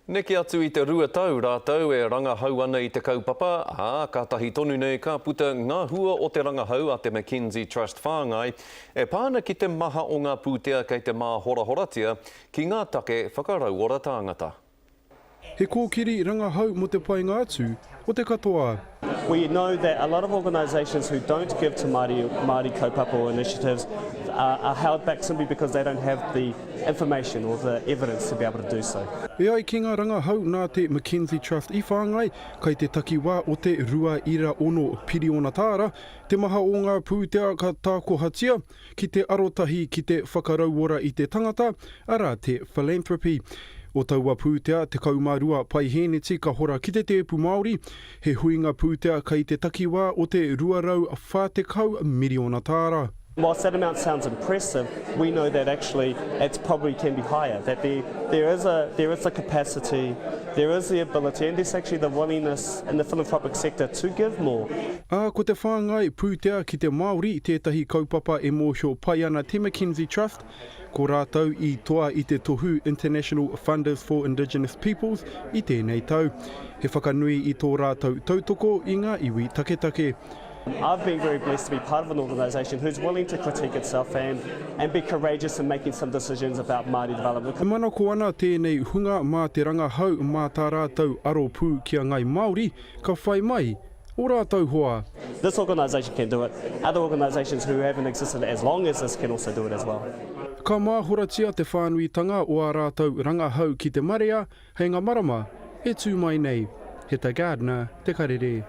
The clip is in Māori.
Neke atu i te rua tau rātou e rangahau ana i te kaupapa, ā, kātahi tonu nei ka puta ngā hua o te rangahau a te McKenzie Trust whāngai e pā ana ki te maha o ngā pūtea kei te māhorahoratia ki ngā take whakarauora tāngata. He kōkiri rangahau mō te painga atu o te katoa. We know that a lot of organisations who don't give to Māori, Māori kaupapa or initiatives are, are held back simply because they don't have the information or the evidence to be able to do so. E ai ki ngā rangahau nā te McKenzie Trust i whāngai, kai te takiwā o te 2.6 piriona tāra te maha o ngā pūtea ka tākohatia, ki te arotahi ki te whakarauora i te tangata, arā, te philanthropy. O taua pūtea, 12 paihēneti ka hora ki te tēpu Māori, he huinga pūtea kei te takiwā o te 240 miriona tāra. Whilst that amount sounds impressive, we know that actually it probably can be higher, that there, there, is a, there is a capacity There is the ability and there's actually the willingness in the philanthropic sector to give more. Ā, ko te whāngai pūtea ki te Māori tētahi kaupapa e mōhio pai ana te McKenzie Trust, ko rātou i toa i te tohu International Funders for Indigenous Peoples i tēnei tau. He whakanui i tō rātou tautoko i ngā iwi taketake. I've been very blessed to be part of an organisation who's willing to critique itself and, and be courageous in making some decisions about Māori development. E manako ana tēnei hunga mā te rangahau mā tā rātou aro pū ki a Ngai Māori ka whai mai ō rātou hoa. This organisation can do it. Other organisations who haven't existed as long as this can also do it as well. Ka māhoratia te whānuitanga o ā rātou rangahau ki te marea hei ngā marama e tū mai nei. He ta Gardner te karere.